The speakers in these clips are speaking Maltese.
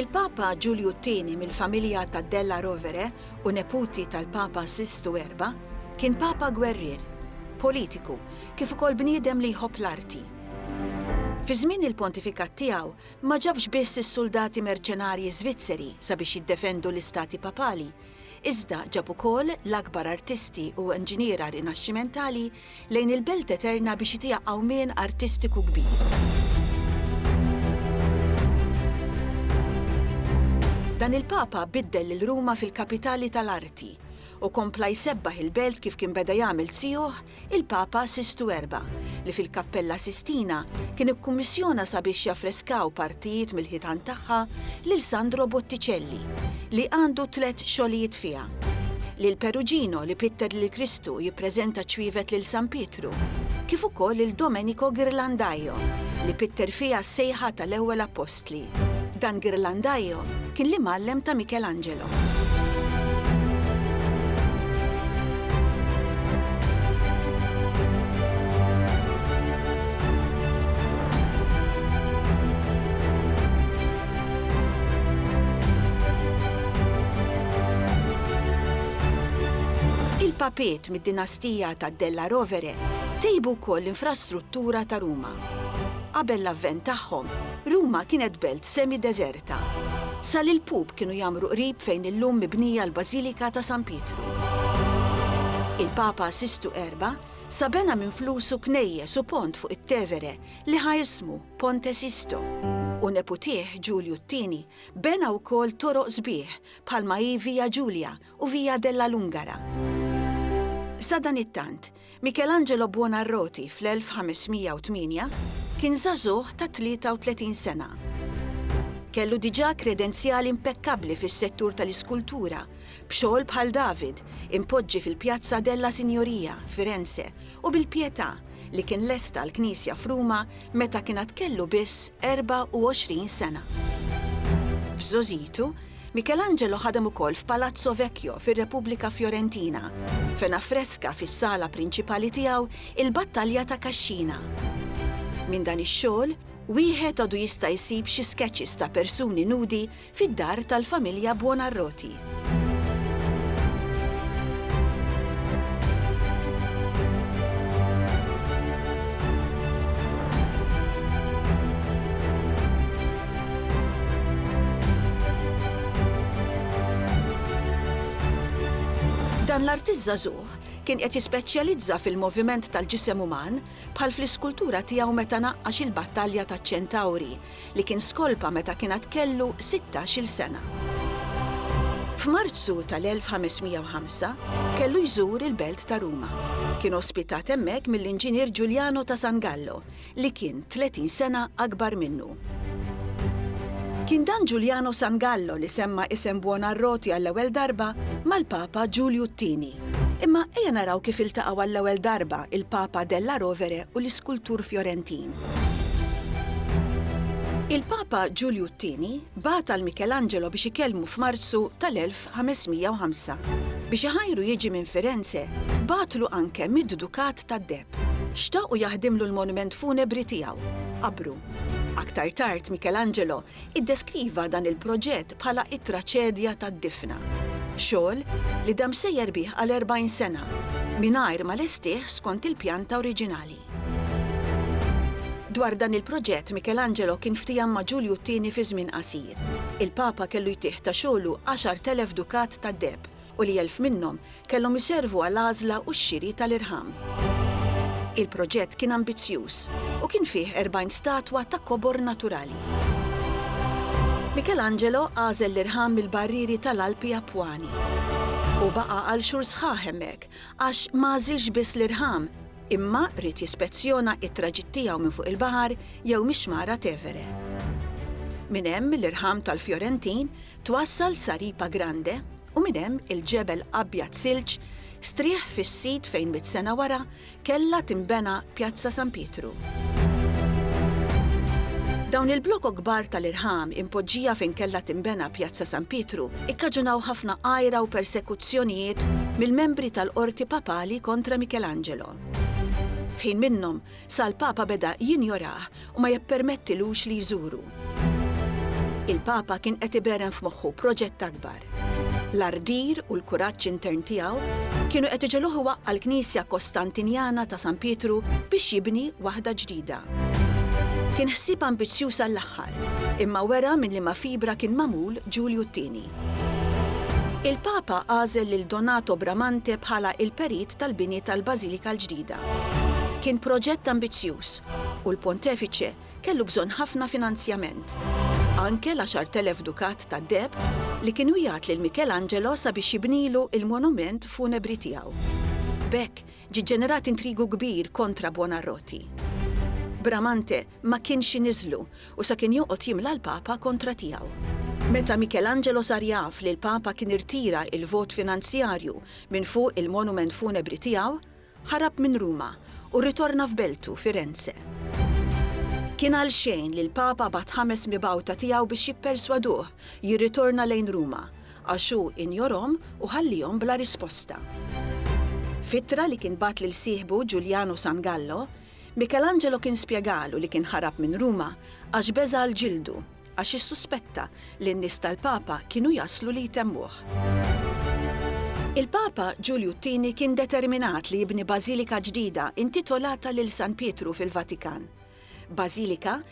Il-Papa Ġulju t-Tieni mill-familja ta' Della Rovere u neputi tal-Papa Sistu Erba' kien Papa gwerrier, politiku, kif ukoll bniedem li jħobb l-arti. Fi żmien il-pontifikat tiegħu, Ma ġabx biss is-suldati merċenarji Żvizzeri sabiex jiddefendu l-istati papali, iżda ġab ukoll l-akbar artisti u inġiniera Rinaxximentali lejn il-Belt Eterna biex itija qawmien artistiku kbir. Dan il-Papa biddel lil Ruma fil-kapitali tal-arti u kompla jsebbaħ il-Belt kif kien beda jagħmel tzijuh il-Papa Sistu Erba', li fil-Kappella Sistina kien ikkummissjona sabiex jaffreskaw partijiet mill-ħitan tagħha lil Sandro Botticelli, li għandu tliet xogħlijiet fiha, lil Perugino li pitter lil Kristu jippreżenta ċwievet lil San Pietru, kif ukoll lil Domenico Ghirlandaio li pitter fiha s-sejħa tal-ewwel appostli. Dan Ghirlandaio kien l-imgħallem ta' Michelangelo. Il-papiet mid-dinastija ta' Della Rovere tejbu wkoll l-infrastruttura ta' Ruma. Qabel l-avvent tagħhom, Ruma kienet belt semi-deżerta. Sa l-ilpup kienu jgħammru qrib fejn illum mibnija l-Bażilika ta' San Pietru. Il-Papa Sistu Erba' sa bena minn flusu knejjes u pont fuq it-Tevere li ħa ismu Ponte Sisto, u neputih Ġulju t-Tieni bena wkoll toroq sbieħ bħalma hi Via Giulia u Via della Lungara. Sadanittant, Michelangelo Buonarroti fl-1508 kien żagħżugħ ta' 33 sena. Kellu diġà kredenzjali impekkabbli fis-settur tal-iskultura, b'xogħol bħal David impoġġi fil-Pjazza della Signoria, Firenze, u bil-Pietà li kien lesta l-knisja f'Ruma meta kien għad kellu biss 24 sena. F'żogħżitu, Michelangelo ħadem ukoll f'Palazzo Vecchio fir-Repubblika Fjorentina, fejn affreska fis-sala prinċipali tiegħu il-Battalja ta' Cascina. Minn dan ix-xogħol, wieħed għadu jista' jsib xi sketches ta' persuni nudi fid-dar tal-familja Buonarroti. Dan l-artist żagħżugħ kien qed jispeċjalizza fil-moviment tal-ġisem uman bħal fl-iskultura tiegħu meta naqqax il-battalja taċ-Ċentawri li kien skolpa meta kien għad kellu sittax-il sena. F'Marzu tal-1505 kellu jżur il-belt ta' Ruma. Kien ospitat hemmhekk mill-inġinier Ġuljano ta' San Gallo li kien 30 sena akbar minnu. Kien dan Ġuljano Sangallo li semma isem Buonarroti għall-ewwel darba mal-Papa Ġulju t-Tieni. Imma ejja naraw kif iltaqgħu għall-ewwel darba il-Papa Della Rovere u l-iskultur Fjorentin. Il-Papa Ġulju t-Tieni bagħat għal Michelangelo biex ikellmu f'Marzu tal-1505. Biex iħajru jiġi minn Firenze, bagħatlu anke mid-Dukat ta' De. Xtaq u jaħdimlu l-monument funebri tiegħu, qabru. Aktar tard Michelangelo iddeskriva dan il-proġett bħala it-traċedja tad-difna. Xogħol li dam sejjer bih għal 40 sena, mingħajr ma lestih skont il-pjanta oriġinali. Dwar dan il-proġett Michelangelo kien ftiehem ma' Ġulju t-Tieni fi żmien qasir. Il-Papa kellu jtih ta' xogħlu 10,000 dukat tad-deheb u li elf minnhom kellhom iservu għal għażla u x-xiri tal-irħam. Il-proġett kien ambizzjuż u kien fih 40 statwa ta' kobor naturali. Michelangelo għażel l-irħam mill-barrieri tal-Alpi Appuani. Hu baqa' għal xhur sħaħ hemmhekk għax ma għażilx biss l-irħam, imma ried jispezzjona t-traġitt tiegħu minn fuq il-baħar jew mix-Xmara Tevere. Minn hemm l-irħam tal-Fjorentin Twassal sa Ripa Grande u minn hemm il-ġebel abjad silġ strieħ fis-sit fejn mitt sena wara kellha tinbena Pjazza San Pietru. Dawn il-blokok kbar tal-irħam impoġġija fejn kellha tinbena Pjazza San Pietru ikkaġunaw ħafna għira u persekuzzjonijiet mill-membri tal-Qorti Papali kontra Michelangelo. F'ħin minnhom, sa l-Papa beda jinjorah u ma jippermettilux li jżuru. Il-Papa kien qed iberren f'moħħu proġett akbar. L-ardir u l-kuraġġ intern tiegħu kienu qed iġegħluh iwaqqa' l-Knisja Kostantinjana ta' San Pietru biex jibni waħda ġdida. Kien ħsieb ambizzjuż għall-aħħar, imma wera minn liema fibra kien magħmul Ġulju t-Tieni. Il-Papa għażel lil Donato Bramante bħala l-perit tal-bini tal-Bażilika l-ġdida. Kien proġett ambizzjuż, u l-Pontefiċe kellu bżonn ħafna finanzjament. Anke l-għaxart elef dukat tad-deheb li kienu jgħatt lil Michelangelo sabiex jibnilu l-monument funebri tiegħu. B'hekk, ġie ġġenerat intrigu kbir kontra Buonarroti. Bramante ma kienx iniżżlu u sa kien joqgħod jimla l-Papa kontra tiegħu. Meta Michelangelo sar jaf li l-Papa kien irtira l-vot finanzjarju minn fuq il-monument funebri tiegħu, ħarab minn Ruma u rritorna f'beltu, Firenze. Kien għalxejn li l-Papa bagħat ħames mibgħuta tiegħu biex jipperswaduh jirritorna lejn Ruma, għax hu injorhom u ħalliehom bla risposta. F'ittra li kien bagħat lil sieħbu Ġuljano Sangallo, Michelangelo kien spjegalu li kien ħarab minn Ruma għax beża' għal ġildu, għax issuspetta li n-nies tal-Papa kienu jaslu li jtemmuh. Il-Papa Ġulju t-Tieni kien determinat li jibni bażilika ġdida intitolata lil San Pietru fil-Vatikan. Bażilika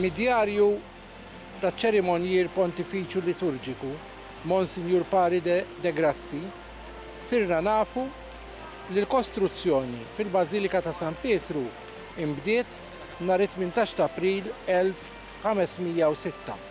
Mid-djarju taċ-Ċerimonjier Pontifiċju Liturġiku Monsinjur Pari de de Grassi sirna nafu li l-kostruzzjoni fil-Bażilika ta' San Pietru inbdiet nhar it-tmintax t'April 1506.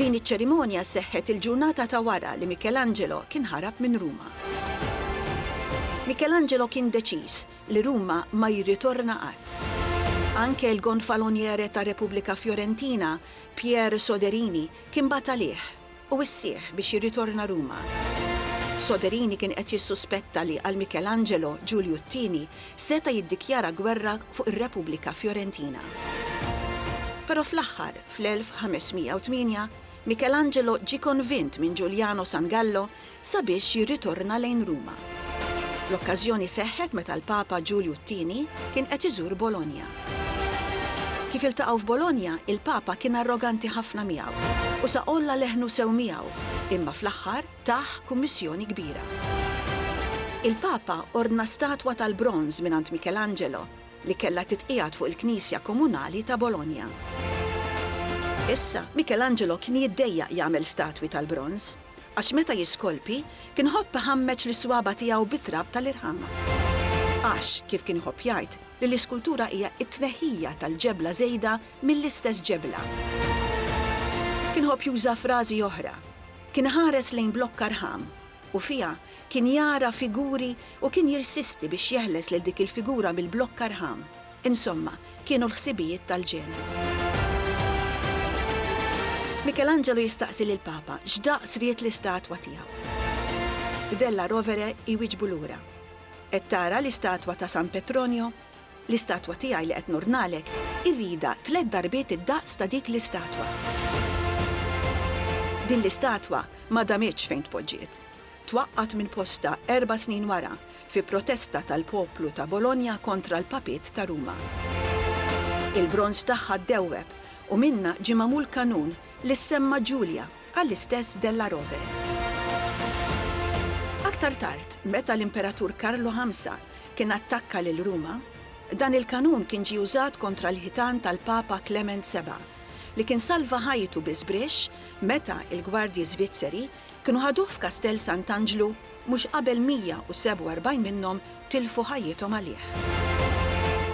Din iċ-ċerimonja seħħet il-ġurnata ta' wara li Michelangelo kien ħarab minn Ruma. Michelangelo kien deċiż li Ruma ma jirritorna qatt. Anke l-gonfaloniere ta' Repubblika Fiorentina, Pierre Soderini, kien bagħat għalih u wissih biex jirritorna Ruma. Soderini kien qed jissuspetta li għal Michelangelo, Ġulju t-Tieni seta' jiddikjara gwerra fuq ir-Repubblika Fiorentina. Però fl-aħħar, fl-1508, Michelangelo ġie konvint minn Ġuljano Sangallo sabiex jirritorna lejn Ruma. L-okkażjoni seħħet meta l-Papa Ġulju t-Tieni kien qed iżur Bologna. Kif iltaqgħu f'Bologna, il-Papa kien arroganti ħafna miegħu u sa għolla leħnu sew miegħu, imma fl-aħħar tah kummissjoni kbira. Il-Papa ordna statwa tal-bronż mingħand Michelangelo li kellha titqiegħed fuq il-knisja komunali ta' Bologna. Issa, Michelangelo kien jiddejjaq jagħmel statwi tal-bronż, għax meta jiskolpi, kien ħobb iħammeġ lis-swaba' tiegħu bit-trab tal-irħam. Għax, kif kien iħobb jgħid, li l-iskultura hija t-tneħħija tal-ġebla żejda mill-istess ġebla. Kien iħobb juża' frażi oħra. Kien iħares lejn blokka rħam, u fiha kien jara figuri u kien jirsisti biex jeħles lil dik il-figura mill-blokka rħam. Insomma, kienu l-ħsibijiet tal-ġenn. Mikelanġelu jistaqsi lill-Papa x'daqs ried l-istatwa tiegħu. Della Rovere jwieġbu lura, Qed tara l-istatwa ta' San Petronio? L-istatwa tiegħi li qed nordnalek irridha tliet darbiet id-daqs ta' dik l-istatwa. Din l-istatwa ma damitx fejn tpoġġiet. twaqqgħet minn postha erba' snin wara fi protesta tal-poplu ta' Bologna kontra l-Papiet ta' Ruma. Il-bronż tagħha ddewweb u minnha ġie magħmul kanun li ssemma Ġulja għall-istess Della Rovere. Aktar tard, meta l-Imperatur Karlu Ħamsa kien attakka lil Ruma, dan il-kanun kien ġie użat kontra l-ħitan tal-Papa Klement Seba', li kien salva ħajtu bi żbrixx meta l-gwardji Żvizzeri Kienu ħaduh f'Kastell Sant'Anġlu mhux qabel 147 minnhom tilfu ħajjithom għalih.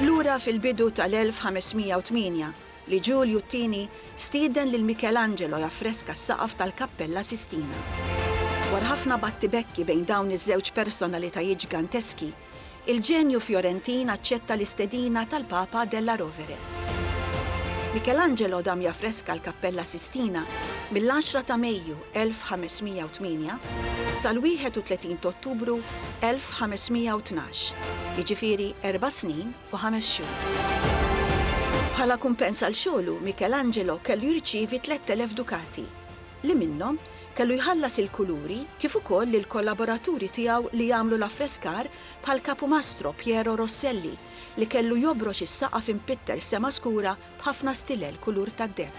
Lura fil-bidu tal-1508 li Ġulju t-Tieni stieden lil Michelangelo jaffreska s-saqaf tal-Kappella Sistina. Dwar ħafna battibekki bejn dawn iż-żewġ personalitajiet ġganteski Il-ġenju Fjorentin aċċetta l-istedina tal-Papa Della Rovere. Michelangelo dam jaffreska l-Kappella Sistina mill-10 ta' Mejju 1508 sal-31 t'Ottubru 1512, jiġifieri erba' snin u ħames xhur. Bħala kumpens għal xogħlu, Michelangelo kellu jirċievi 3,000 dukati. li minnhom, kellu jħallas il-kuluri kif ukoll lill-kollaboraturi tiegħu li jagħmlu l-affreskar bħall-kapumastro Piero Rosselli li kellu jobrox is-saqaf impitter sema skura b'ħafna stilel kulur tad-deheb.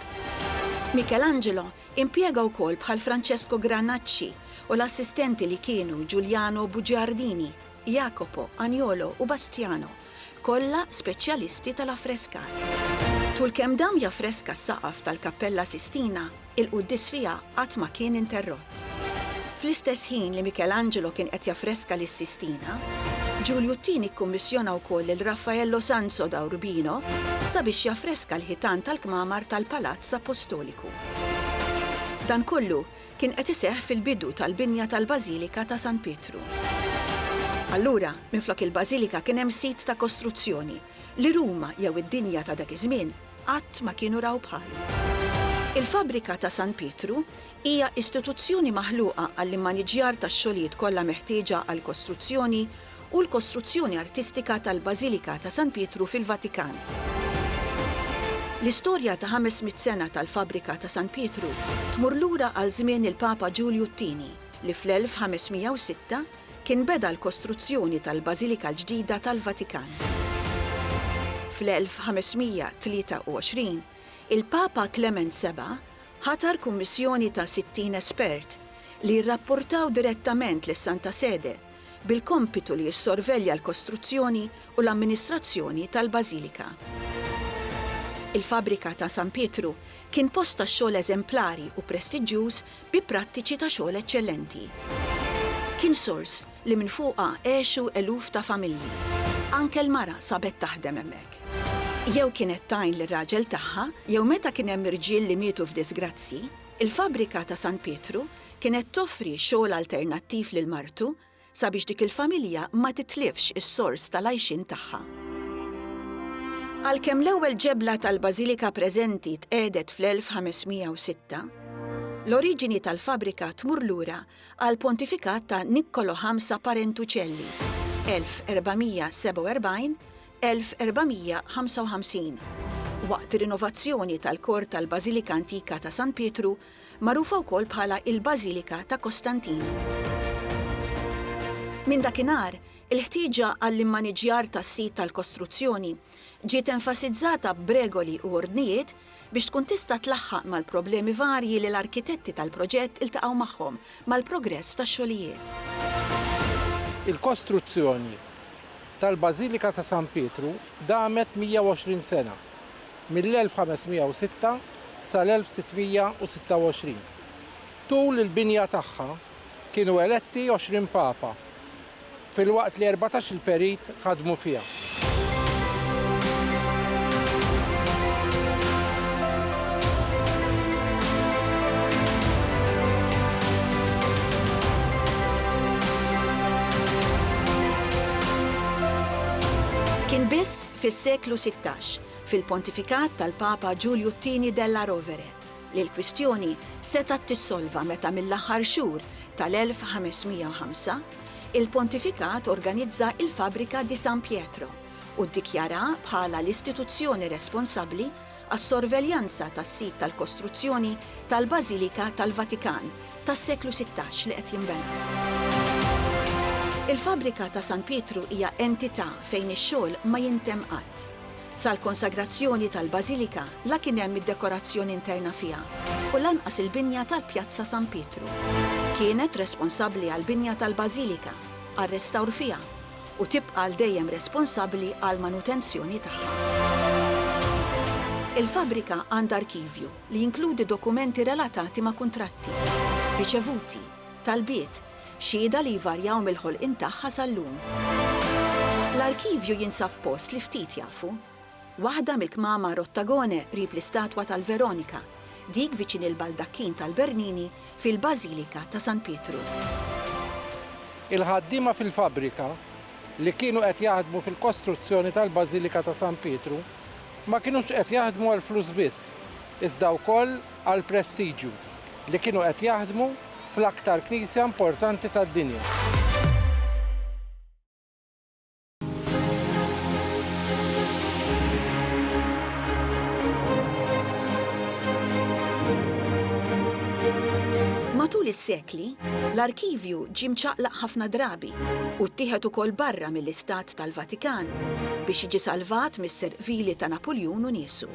Michelangelo impjega wkoll bħal Francesco Granacci u l-assistenti li kienu Giuliano Bugiardini, Jacopo, Agnolo u Bastiano. kollha speċjalisti tal-affreskar. Tul kemm dam jaffreska s-saqaf tal-Kappella Sistina, il-quddies fiha qatt ma kien interrott. Fl-istess ħin li Michelangelo kien qed jaffreska lis-Sistina, Ġulju t-Tieni kkummissjona wkoll lil Raffaello Sanso da Urbino sabiex jaffreska l-ħitan tal-kmamar tal-Palazz Appostoliku. Dan kollu kien qed iseħħ fil-bidu tal-binja tal-Bażilika ta' San Pietru. Allura, minflok il-Bażilika kien hemm sit ta' kostruzzjoni li Ruma jew id-dinja ta' dak iż-żmien qatt ma kienu raw bħalu. Il-fabbrika ta' San Pietru hija istituzzjoni maħluqa għall-immaniġġjar tax-xogħlijiet kollha meħtieġa għall-kostruzzjoni u l-kostruzzjoni artistika tal-Bażilika ta' San Pietru fil-Vatikan. L-istorja ta' 500 sena tal-fabbrika ta' San Pietru tmur lura għal żmien il-Papa Ġulju t-Tieni, li fl-1506 kien beda l-kostruzzjoni tal-Bażilika l-ġdida tal-Vatikan. Fl-1523, il-Papa Klement Seba' ħatar kummissjoni ta' 60 espert li jirrapportaw direttament lis-Santa Sede bil-kompitu li jissorvelja l-kostruzzjoni u l-amministrazzjoni tal-Bażilika. Il-fabbrika ta' San Pietru kien post tax-xogħol eżemplari u prestiġġjuż bi prattiċi ta' xogħol eċċellenti. Kien sors li minn fuqha għexu eluf ta' familji. Anke l-mara sabet taħdem hemmhekk. Jew kienet tgħin lir-raġel tagħha jew meta kien hemm irġiel li mietu f'diżgrazzji, il-fabbrika ta' San Pietru kienet toffri xogħol alternattiv lil martu sabiex dik il-familja ma titlifx is-sors tal-għajxien tagħha. Għalkemm l-ewwel ġebla tal-bażilika preżenti tqiegħdet fl-1506, l-oriġini tal-fabbrika tmur lura għall-pontifikat ta' Nikkolo Ħamsa Parentuċelli, 1447, 1455, waqt rinovazzjoni tal-kor tal-bażilika antika ta' San Pietru magħrufa wkoll bħala il-Bażilika ta' Kostantin. Minn dakinhar, il-ħtieġa għall-immaniġġjar tas-sit tal-kostruzzjoni ġiet enfasizzata b'regoli u ordnijiet biex tkun tista' tlaħħaq mal-problemi varji li l-arkitetti tal-proġett iltaqgħu magħhom mal-progress tax-xogħlijiet. Il-kostruzzjoni tal-Bażilika ta' San Pietru damet 120 sena, mill-1506 sal-1626. Tul il-binja tagħha kienu eletti għoxrin papa, filwaqt li erbatax-il perit ħadmu fiha. Kien biss fis-seklu sittax fil-pontifikat tal-Papa Ġulju t-Tieni Della Rovere, li l-kwistjoni setgħet tissolva meta mill-aħħar xhur tal-1505, il-pontifikat organizza il-fabbrika di San Pietro u ddikjaraha bħala l-istituzzjoni responsabbli għas-sorveljanza tas-sit tal-kostruzzjoni tal-Bażilika tal-Vatikan tas-seklu sittax li qed jinbena. Il-fabbrika ta' San Pietru hija entità fejn ix-xogħol ma jintemm qatt. Sal-konsagrazzjoni tal-bażilika la kien hemm id-dekorazzjoni interna fiha u lanqas il-binja tal-Pjazza San Pietru. Kienet responsabbli għall-binja tal-bażilika, għar-restawr fiha u tibqa' għal dejjem responsabbli għall-manutenzjoni tagħha. Il-fabbrika għandha arkivju li jinkludi dokumenti relatati ma' kuntratti, riċevuti, talbiet, Xhieda li jvarjaw mill-ħolqien tagħha sal-lum. L-arkivju jinsab f'post li ftit jafu. Waħda mill-kmamar Ottagone qrib l-istatwa tal-Veronika, dik viċin il-baldakkin tal-Bernini fil-Bażilika ta' San Pietru. Il-ħaddiema fil-fabbrika, li kienu qed jaħdmu fil-kostruzzjoni tal-Bażilika ta' San Pietru, ma kinux qed jaħdmu għall-flus biss, iżda wkoll għall-prestiġju li kienu qed jaħdmu fl-aktar knisja importanti tad-dinja. Matul is-sekli, l-arkivju ġie mċaqlaq ħafna drabi u ttieħed ukoll barra mill-Istat tal-Vatikan biex jiġi salvat mis-serq vili ta' Napuljun u niesu.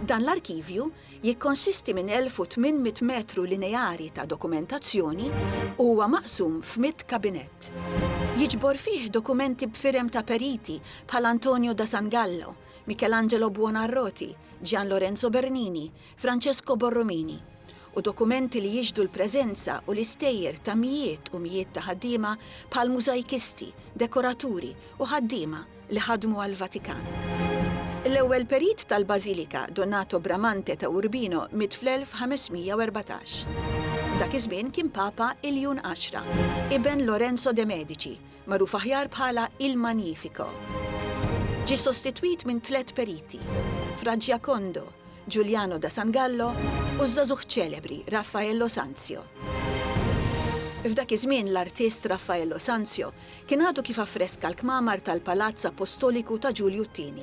Dan l-arkivju jikkonsisti minn 1,800 metru lineari ta' dokumentazzjoni u huwa maqsum f'mitt kabinett. Jiġbor fih dokumenti b'firem ta' periti bħal Antonio da San Gallo, Michelangelo Buonarroti, Gian Lorenzo Bernini, Francesco Borromini, u dokumenti li jixhdu l-preżenza u l-istejjer ta' mijiet u mijiet ta' ħaddiema bħal mużajkisti, dekoraturi u ħaddiema li ħadmu għall-Vatikan. L-ewwel perit tal-bażilika, Donato Bramante ta' Urbino, miet fl-1514. Dak iż-żmien kien Papa Iljun Għaxra, iben Lorenzo de' Medici, magħruf aħjar bħala Il Magnifico. Ġie sostitwit minn tliet periti, Fra Giacondo, Giuliano da San Gallo u ż-żagħżugħ ċelebri Raffaello Sanzio. F'dak iż-żmien l-artist Raffaello Sanzio kien għadu kif affreska l-kmamar tal-Palazz Appostoliku ta' Ġulju ii.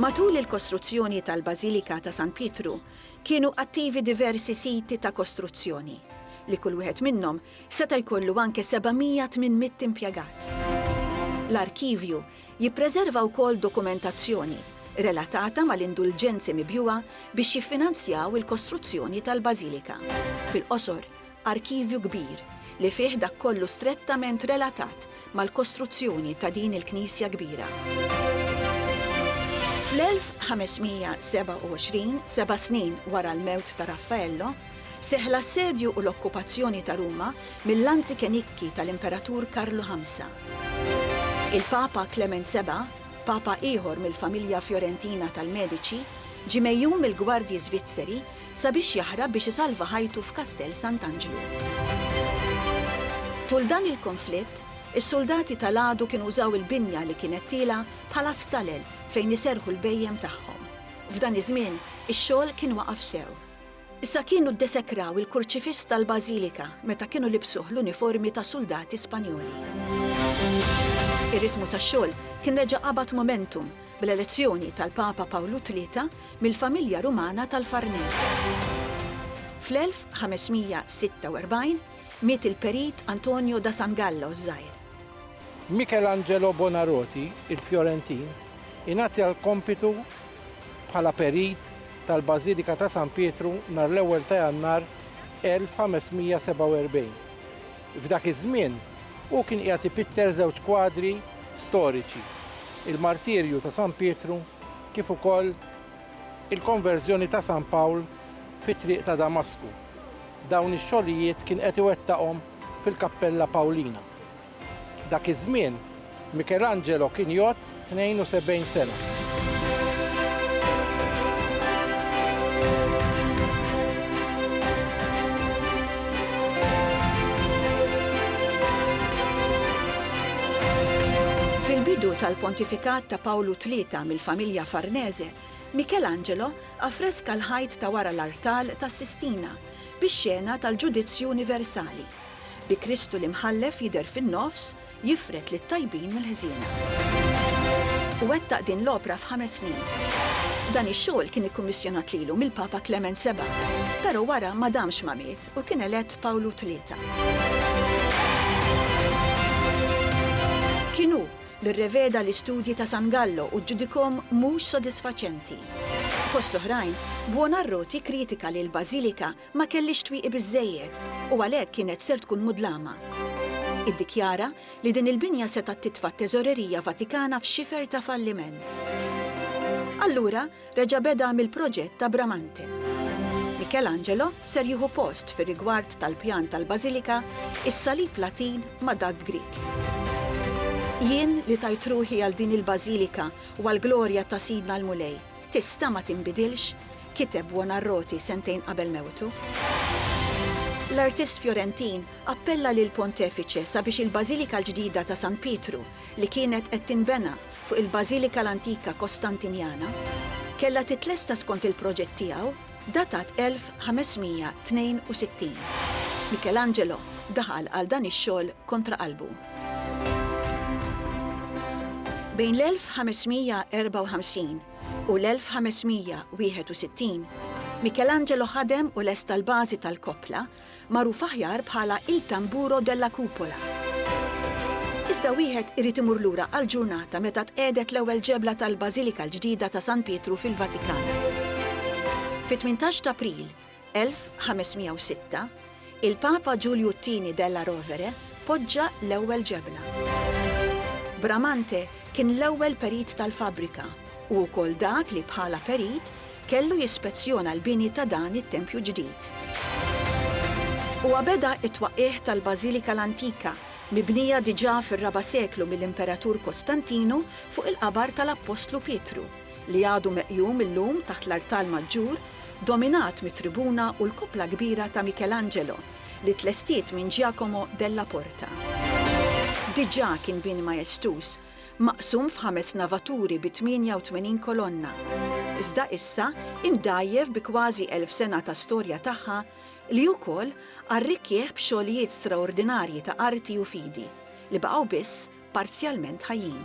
Matul il-kostruzzjoni tal-Bażilika ta' San Pietru kienu attivi diversi siti ta' kostruzzjoni, li kull wieħed minnhom seta' jkollu anke 700-800 impjegat. L-arkivju Jippreserva wkoll dokumentazzjoni relatata mal-indulġenzi mibjugħa biex jiffinanzjaw il-kostruzzjoni tal-bażilika. Fil-qosor, arkivju kbir li fih dak kollu strettament relatat mal-kostruzzjoni ta' din il-knisja kbira. Fl-1527, seba' snin wara l-mewt ta' Raffaello, Seħħ l-assedju u l-okkupazzjoni ta' Ruma mill-anzikenikki tal-Imperatur Karlu Ħamsa. Il-Papa Klement Seba', Papa ieħor mill-familja Fjorentina tal-Mediċi, ġie megħjun mill-gwardji Żvizzeri sabiex jaħrab biex isalva ħajtu f'Kastell Sant'Anġlu. Tul dan il-konflitt, is-suldati tal-għadu kienu użaw il-binja li kienet tiela' bħala stalel fejn iserrħu l-bhejjem tagħhom. F'dan iż-żmien, ix-xogħol kien waqaf sew. Issa kienu ddesekraw il-kurċifiss tal-Bażilika meta kienu libsuh l-uniformi ta' suldati Spanjoli. Ir-ritmu tax-xogħol kien reġa' qabad momentum bl-elezzjoni tal-Papa Pawlu Tlieta mill-familja Rumana tal-Farnese. Fl-1546 miet il-perit Antonio da San Gallo ż-Żgħir. Michelangelo Buonarroti, il-Fjorentin, ingħata l-kompitu bħala Perit tal-Bażilika ta' San Pietru nhar l-ewwel ta' Jannar 1547. F'dak iż-żmien hu kien qiegħed ipitter żewġ kwadri storiċi, il-Martirju ta' San Pietru kif ukoll il-Konverżjoni ta' San Pawl fit-triq ta' Damasku. Dawn ix-xogħlijiet kien qed iwettaqhom fil-Kappella Pawlina. Dak iż-żmien, Michelangelo kien jgħodd 72 sena. Fil-bidu tal-pontifikat ta' Pawlu Tlieta mill-familja Farnese, Michelangelo affreska l-ħajt ta' wara l-artal tas-Sistina bix-xena tal-Ġudizzju Universali. Bi Kristu l-Imħallef jidher fin-nofs, jifred lit-tajbin mill-ħżiena. U wettaq din l-opra f'ħames snin. Dan ix-xogħol kien ikkummissjonat lilu mill-Papa Klement Seba', però wara ma damx ma miet u kien elett Pawlu Tlieta. Kien hu li rreveda l-istudji ta' San Gallo u ġġudikahom mhux sodisfaċenti. Fost l-oħrajn, Buonarroti kkritika li l-bażilika ma kellhiex twieqi biżżejjed u għalhekk kienet ser tkun mudlama. Iddikjara li din il-binja setgħet titfa' t-Teżorerija Vatikana f'xifer ta' falliment. Allura reġa' beda mill-proġett ta' Bramante. Michelangelo ser jieħu post fir-rigward tal-pjan tal-bażilika is-salib Latin ma' dak Grieg. Jien li tajt ruħi għal din il-bażilika u għall-glorja ta' Sidna l-Mulej, tista' ma tinbidilx? kiteb Buonarroti sentejn qabel mewtu. L-artist Fjorentin appella lill-Pontefiċe sabiex il-Bażilika l-ġdida ta' San Pietru, li kienet qed tinbena fuq il-Bażilika l-antika Kostantinjana, kellha titlesta skont il-proġett tiegħu datat 1562. Michelangelo daħal għal dan ix-xogħol kontra qalbu. Bejn l-1554 u l-1561, Michelangelo ħadem u lesta l-bażi tal-koppla, magħruf aħjar bħala Il Tamburo della Cupola. Iżda wieħed irid imur lura għall-ġurnata meta tqiegħdet l-ewwel ġebla tal-Bażilika l-ġdida ta' San Pietru fil-Vatikan. Fit-18 t'April, 1506, il-Papa Ġulju t-Tieni della Rovere poġġa l-ewwel ġebla. Bramante kien l-ewwel perit tal-fabbrika u wkoll dak li bħala perit kellu jispezzjona l-bini ta' dan it-tempju ġdid. Huwa beda t-twaqqigħ tal-Bażilika l-antika, mibnija diġà fir-raba' seklu mill-Imperatur Kostantinu fuq il-qabar tal-Appostlu Pietru. li għadu meqjum illum taħt l-artal maġġur, dominat mit-tribuna u l-koppla kbira ta' Michelangelo, li tlestiet minn Giacomo Della Porta. Diġà kien bini majestuż, maqsum f'ħames navaturi bi 88 kolonna, iżda issa imdgħajjef bi kważi elf sena ta' storja tagħha, li wkoll arrikkih b'xogħlijiet straordinarji ta' arti u fidi, li baqgħu biss parzjalment ħajjin.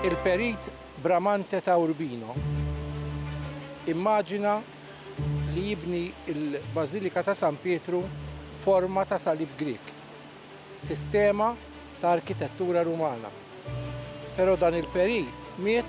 Il-Perit Bramante ta' Urbino immaġina li jibni l-Bażilika ta' San Pietru f'forma ta' salib Grieg, sistema ta' arkitettura Rumana. Però dan il-perit miet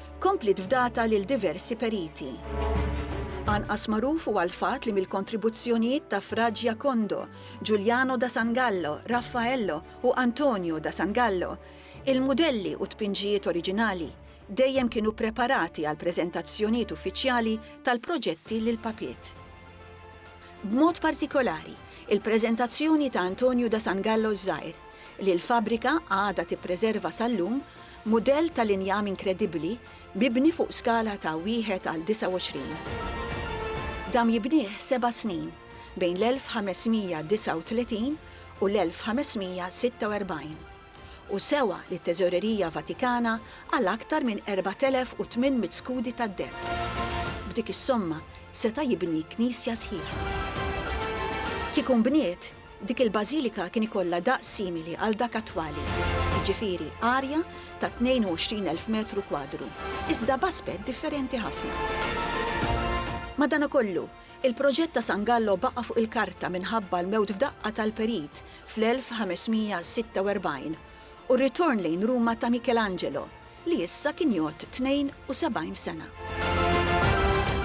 Kompliet fdata lil diversi periti. Anqas magħruf huwa l-fatt li mill-kontribuzzjonijiet ta' Fra Giacondo, Giuliano da Sangallo, Raffaello u Antonio da Sangallo, il-mudelli u t-tpinġijiet oriġinali dejjem kienu preparati għall-preżentazzjonijiet uffiċjali tal-proġetti lill-Papiet. B'mod partikolari, il-preżentazzjoni ta' Antonio da Sangallo ż-Żgħir, li l-fabbrika għadha tippreserva sal-lum, Mudell tal-injam inkredibbli mibni fuq skala ta' wieħed għal 29. Dam jibnieh seba' snin, bejn l-1539 u l-1546, u sewa lit-Teżorerija Vatikana għal aktar minn 4,800 skudi tad-deheb. B'dik is-somma seta' jibni knisja sħiħa. Kieku nbniet, Dik il-bażilika kien ikollha daqs simili għal dak attwali, jiġifieri arja ta' 22,000 metru kwadru, iżda b'aspett differenti ħafna. Madanakollu, il-proġett ta' San Gallo baqa' fuq il-karta minħabba l-mewt f'daqqa tal-perit fl-1546 u r-ritorn lejn Ruma ta' Michelangelo, li issa kien jgħodd 72 sena.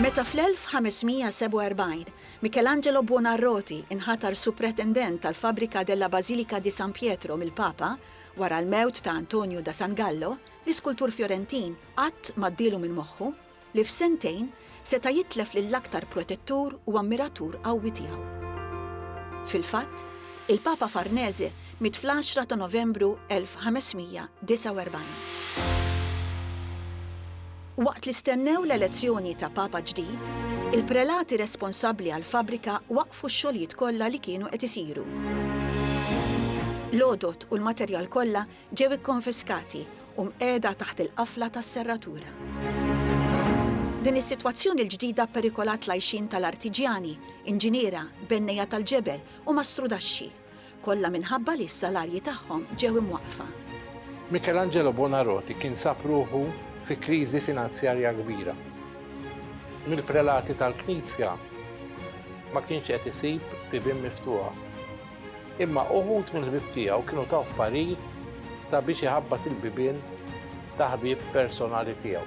Meta fl-1547 Michelangelo Buonarroti inħatar Supretendent tal-Fabbrica della Basilica di San Pietro mill-Papa wara l-mewt ta' Antonio da San Gallo, l-iskultur Fjorentin qatt ma għaddielu minn moħħu li f'sentejn seta' jitlef lill-aktar protettur u ammiratur qawwi tiegħu. Fil-fatt, il-Papa Farnese miet fl-għaxra ta' Novembru 1549. Waqt li stennew l-elezzjoni ta' Papa ġdid, il-prelati responsabbli għall-fabbrika waqqfu x-xogħlijiet kollha li kienu qed isiru. L-għodod u l-materjal kollha ġew ikkonfiskati u mqiegħda taħt il-qafla tas-serratura. Din is-sitwazzjoni l-ġdida pperikolat l-għajxien tal-artiġjani, inġiniera, bennejja tal-ġebel u mastrudaxxi. Kollha minħabba li s-salarji tagħhom ġew imwaqqfa. Michelangelo Buonarroti kien sab ruħu fi kriżi finanzjarja kbira. Mill-prelati tal-Knisja ma kienx qed isib bibien miftuħa. Imma uħud mill-ħbieb tiegħu kienu taw parir sabiex iħabbat il-bibien ta' ħbieb personali tiegħu.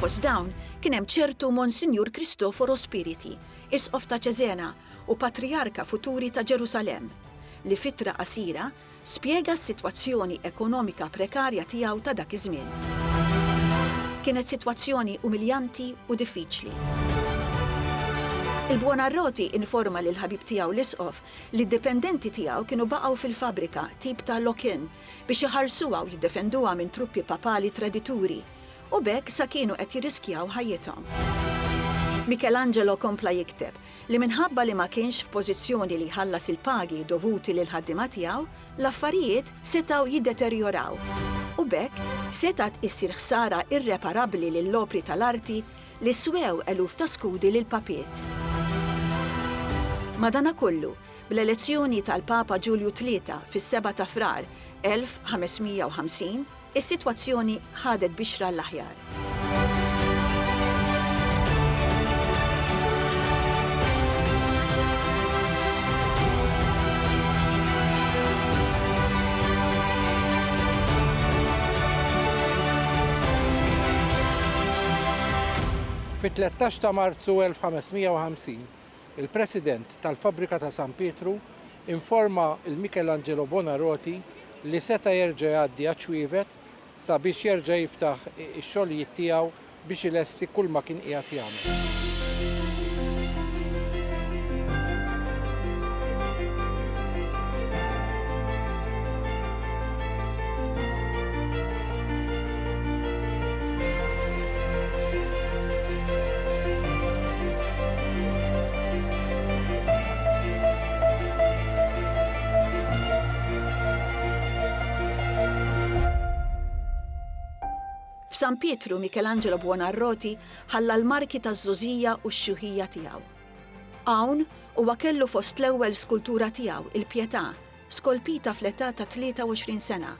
Fost dawn kien hemm ċertu Monsinjur Kristoforo Spiriti, Isqof ta' Cesena u Patrijarka futuri ta' Ġerusalemm, li f'ittra qasira Spjega s-sitwazzjoni ekonomika prekarja tiegħu ta' dak iż-żmien. Kienet sitwazzjoni umiljanti u diffiċli. Il-Buonarroti informa lill-ħabib tiegħu l-Isqof li d-dipendenti tiegħu kienu baqgħu fil-fabbrika, tip ta' lock-in, biex iħarsuha u jiddefenduha minn truppi papali tradituri, u b'hekk sa kienu qed jirriskjaw ħajjithom. Michelangelo kompla jikteb, li minħabba li ma kienx f'pożizzjoni li jħallas il-pagi dovuti lill-ħaddiema tiegħu, l-affarijiet setgħu jiddeterjoraw u b'hekk setgħet issir ħsara irreparabbli lill-opri tal-arti li swew eluf ta' skudi lil papiet. Madanakollu, bl-elezzjoni tal-Papa Ġulju Tlieta fis-Seba' ta' Frar 1550, Is-sitwazzjoni ħadet bixra għall-aħjar. Fit-tlettax ta' Marzu 1550, il-President tal-Fabbrika ta' San Pietru informa lil Michelangelo Buonarroti li seta' jerġa' jgħaddi għaċ-Ċwievet sabiex jerġa' jiftaħ ix-xogħlijiet tiegħu biex ilesti kulma kien qiegħed jagħmel. F'San Pietru Michelangelo Buonarroti ħalla l-marki taż-żgħożija u x-xjuħija tiegħu. Hawn huwa kellu fost l-ewwel skultura tiegħu, il-Pietà, skolpita fl-età ta' 23 sena.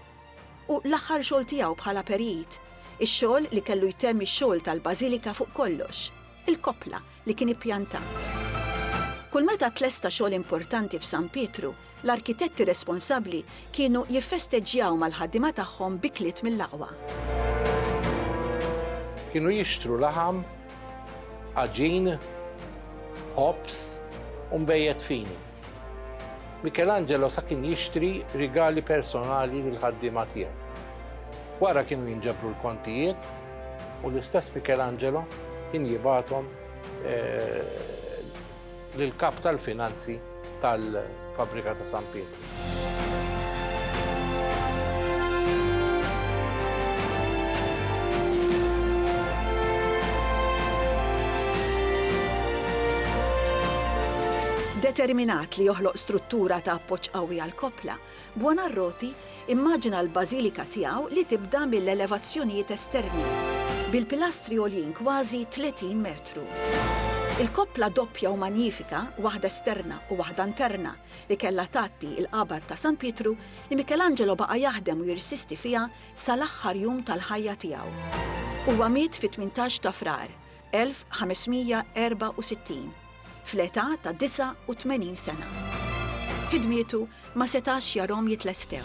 u l-aħħar xogħol tiegħu bħala perit, ix-xogħol li kellu jtemm ix-xogħol tal-bażilika fuq kollox, il-koppla li kien ippjanta. Kull meta tlesta xogħol importanti f'San Pietru, l-arkitetti responsabbli kienu jiffesteġġjaw mal-ħaddiema tagħhom b'ikliet mill-aqwa. Kienu jixtru laħam, għaġin, ħobż u nbejjed fini. Michelangelo sa kien jixtri rigali personali lill-ħaddiema tiegħu. Wara kienu jinġabru l-kontijiet u l-istess Michelangelo kien jibgħathom eh, lill-kap tal-finanzi tal-fabbrika ta' San Pietru. Determinat li joħloq struttura ta' appoġġ qawwi għall-koppla, Buonarroti immaġina l-bażilika tiegħu li tibda mill-elevazzjonijiet esterni, bil-pilastri għoljin kważi 30 metru. Il-koppla doppja u manjifika, waħda esterna u waħda interna, li kellha tgħatti l-qabar ta' San Pietru li Michelangelo baqa' jaħdem u jirsisti fiha sal-aħħar jum tal-ħajja tiegħu. Huwa miet fit-18 ta' Frar 1564, fl-età ta' 89 sena. Ħidmietu ma setax jarhom jitlestew.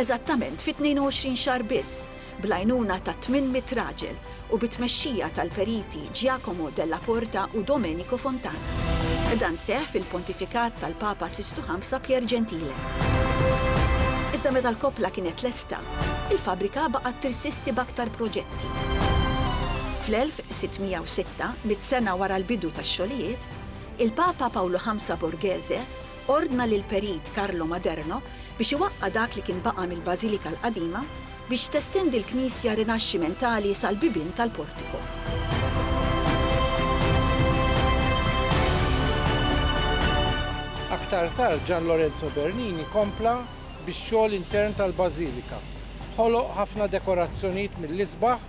Eżattament fi 22 xahar biss, bl-għajnuna ta' 800 raġel u bit-tmexxija tal-periti Giacomo Della Porta u Domenico Fontana. Dan seħħ fil-pontifikat tal-Papa Sistu Ħamsa Pier Gentile. Iżda meta l-koppla kienet lesta, il-fabbrika baqgħet tirsisti b'aktar proġetti. Fl-1606, mitt sena wara l-bidu tax-xogħlijiet, il-Papa Pawlu Ħamsa Borghese ordna lill-Perit Carlo Maderno biex iwaqqa' dak li kien baqa' mill-Bażilika l-qadima biex testendi l-knisja Rinaxximentali sal-bibien tal-portiku. Aktar tard Gian Lorenzo Bernini kompla bix-xogħol intern tal-Bażilika. Ħoloq ħafna dekorazzjonijiet mill-isbaħ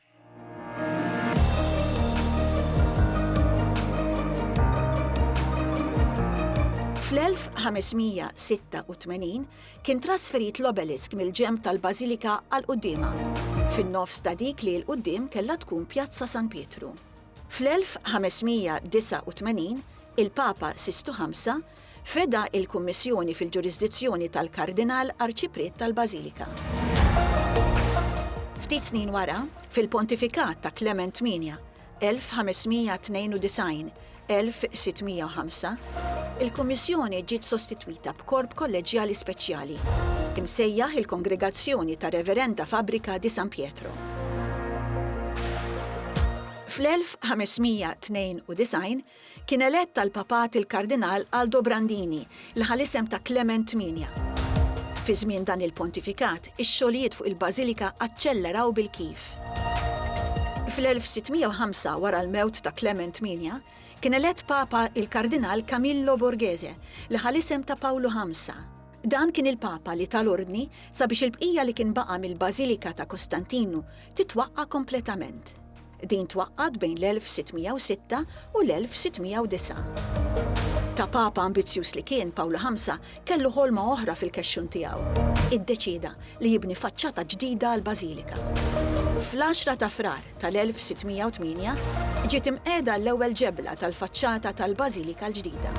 Fl-1586 kien trasferit l-obelisk mill-ġenb tal-bażilika għal quddiemha, fin-nofs ta' dik li 'l quddiem kellha tkun Pjazza San Pietru. Fl-1589, il-Papa Sistu Ħamsa Feda il-Kummissjoni fil-ġurisdizzjoni tal-Kardinal Arċipriet tal-Bażilika. Ftit snin wara, fil-pontifikat ta' Klement Tmienja, 1592, 1605, il-Kummissjoni ġiet sostitwita b'korp kolleġġjali speċjali, imsejjaħ il-Kongregazzjoni tar-Reverenda Fabbrica di San Pietro. Fl-1592, Kien elett għall-Papat il-Kardinal Aldo Brandini, li ħa l-isem ta' Klement Tmienja. Fi żmien dan il-pontifikat, ix-xogħlijiet fuq il-bażilika aċċelleraw bil-kif. Fl-1605, wara l-mewt ta' Klement Tmienja, kien elett Papa il-Kardinal Camillo Borghese, li ħa l-isem ta' Pawlu Ħamsa. Dan kien il-Papa li ta l-ordni sabiex il-bqija li kien baqa' mill-bażilika ta' Kostantinu titwaqqa' kompletament. Din twaqqgħet bejn l-1606 u l-1609. Ta' Papa ambizzjuż li kien, Pawlu Ħamsa kellu ħolma oħra fil-kexxun tiegħu. Iddeċieda li jibni faċċata ġdida għall-bażilika. Fl-10 ta' Frar tal-1608, ġiet imqiegħda l-ewwel ġebla tal-faċċata tal-bażilika l-ġdida.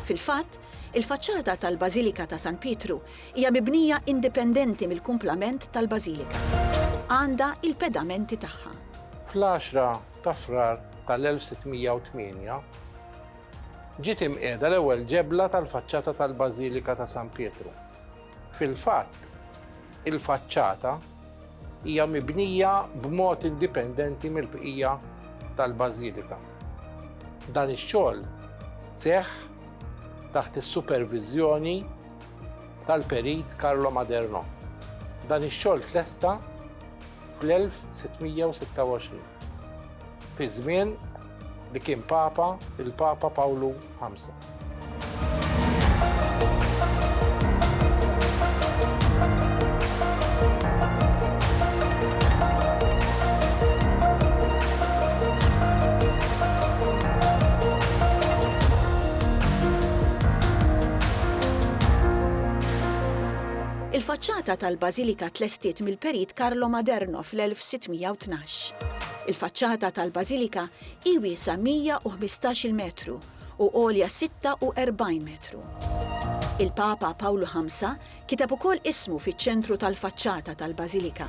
Fil-fatt, il-faċċata tal-bażilika ta' San Pietru Hija mibnija indipendenti mill-kumplament tal-bażilika. Għandha il-pedamenti tagħha. Fl-għaxra ta' Frar tal-1608, ġiet imqiegħda l-ewwel ġebla tal-faċċata tal-Bażilika ta' San Pietru. Fil-fatt, il-faċċata hija mibnija b'mod indipendenti mill-bqija tal-bażilika. Dan ix-xogħol seħħ taħt is-superviżjoni. tal-Perit Carlo Maderno. Dan ix-xogħol tlesta fl-1626, fi żmien li kien Papa il-Papa Pawlu V. Il-faċċata tal-bażilika tlestiet mill-Perit Carlo Maderno fl-1612. Il-faċċata tal-bażilika hi wiesgħa 115-il metru u għolja 46 metru. Il-Papa Pawlu Ħamsa kiteb ukoll ismu fiċ-ċentru tal-faċċata tal-bażilika.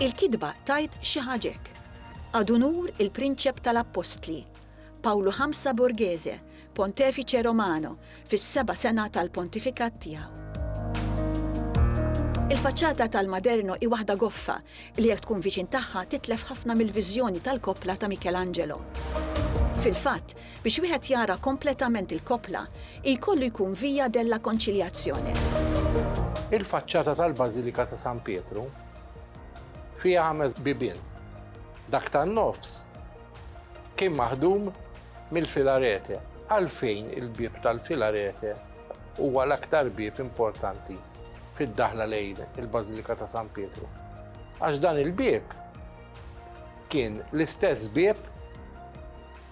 Il-kitba tgħid xi ħaġa hekk, Ad unur il-Prinċep tal-Appostli, Pawlu Ħamsa Borghese, Pontefice Romano, fis-seba' sena tal-pontifikat tiegħu. Il-faċċata tal-Maderno hi waħda goffa li jekk tkun viċin tagħha titlef ħafna mill-viżjoni tal-koppla ta' Michelangelo. Fil-fatt, biex wieħed jara kompletament il-koppla, jkollu jkun Via della Conciliazione. Il-faċċata tal-Bażilika ta' San Pietru fiha ħames bibien. Dak tan-nofs kien maħdum mill-filarete. Għalfejn il-bieb tal-filarete huwa l-aktar bieb importanti fid-daħla lejn il-Bażilika ta' San Pietru? Għax dan il-bieb kien l-istess bieb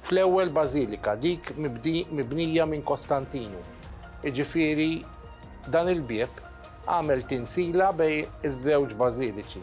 fl-ewwel bażilika, dik mibnija minn Kostantinu. Iġifieri dan il-bieb għamel tinsila bej iż-żewġ bażiliċi.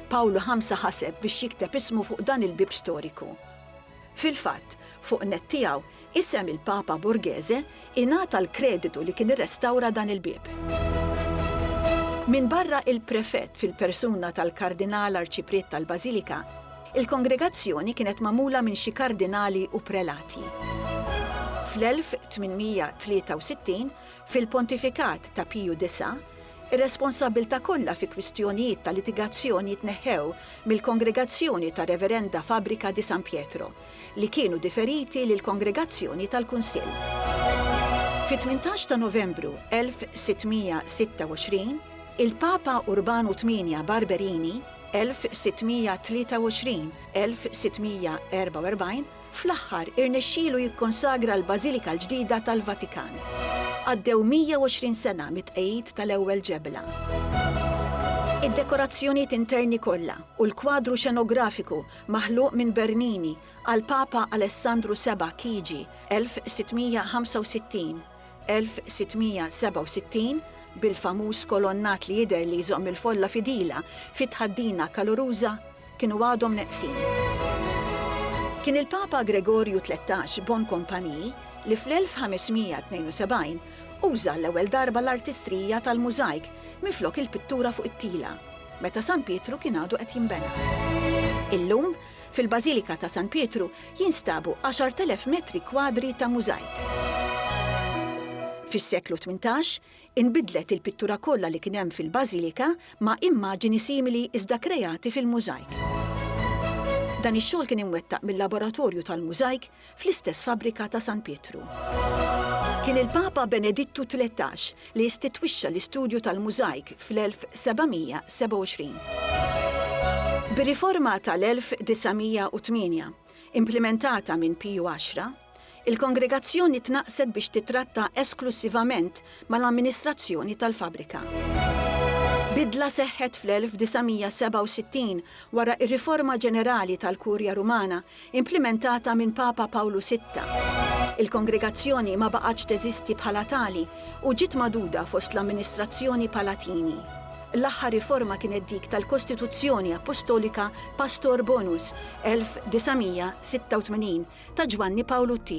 Pawlu ħamsa ħaseb biex jikteb ismu fuq dan il-bieb storiku. Fil-fatt, fuq nett tiegħu, isem il-Papa Borghese ingħata l-kreditu li kien irrestawra dan il-bieb. Minbarra il-prefett fil-persuna tal-Kardinal Arċipriet tal-Bażilika, il-kongregazzjoni kienet magħmula minn xi kardinali u prelati. Fl-1863, fil-pontifikat ta' Piju Disa', Ir-responsabbiltà kollha fi kwistjonijiet ta' litigazzjoni tneħħew mill-Kongregazzjoni tar-Reverenda Fabbrica di San Pietro, li kienu diferiti lill-Kongregazzjoni tal-Kunsill. Fit-tmintax ta' Novembru 1626, il-Papa Urbanu Tmienja Barberini, 1623, 1644, Fl-aħħar, irnexxielu jikkonsagra l-Bażilika l-ġdida tal-Vatikan. Għaddew 120 sena mit-tqegħid tal-ewwel ġebla. Id-dekorazzjonijiet interni kollha u l-kwadru xenografiku maħluq minn Bernini għall-Papa Alessandru Seba' KG. 1665, 1667, bil-famuż kolonnat li jidher li jżomm il-folla fidila fi tħaddina kaluruża, kienu għadhom neqsin. Kien il-Papa Gregorju Tlettax Boncompagni li fl-1572 uża għall-ewwel darba l-artistrija tal-mużajk minflok il-pittura fuq it-tila, meta San Pietru kien għadu qed jinbena. Illum, Fil-Bażilika ta' San Pietru jinstabu 10,000 metri kwadri ta' mużajk. Fis-seklu tmintax, inbidlet il-pittura kollha li kien hemm fil-Bażilika ma' immaġini simili iżda krejati fil-mużajk. Dan ix-xogħol kien imwettaq mil-Laboratorju tal-Mużajk fl-istess fabbrika ta' San Pietru. Kien il-Papa Benedittu Tlettax li istitwixxa l-istudju tal-mużajk fl-1727. Bir-riforma tal-1908, implimentata minn Piju Għaxra, il-kongregazzjoni tnaqqset biex tittratta esklussivament mal-amministrazzjoni tal-fabbrika. Bidla seħħet fl-1967 wara r-riforma ġenerali tal-Kurja Rumana implimentata minn Papa Pawlu Sitta. Il-kongregazzjoni ma baqgħetx teżisti bħala tali u ġiet magħduda fost l-amministrazzjoni Palatini. L-aħħar riforma kienet dik tal-Kostituzzjoni Appostolika Pastor Bonus, 1986, ta' Ġwanni Pawlu ii.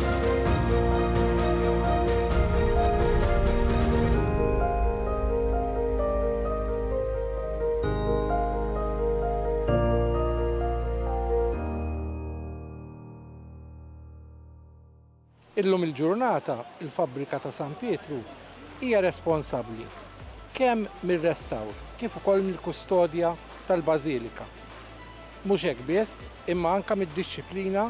Illum il-ġurnata, il-fabbrika ta' San Pietru hija responsabbli kemm mir-restawr kif ukoll mill-kustodja tal-Bażilika. Mhux hekk biss, imma anke mid-dixxiplina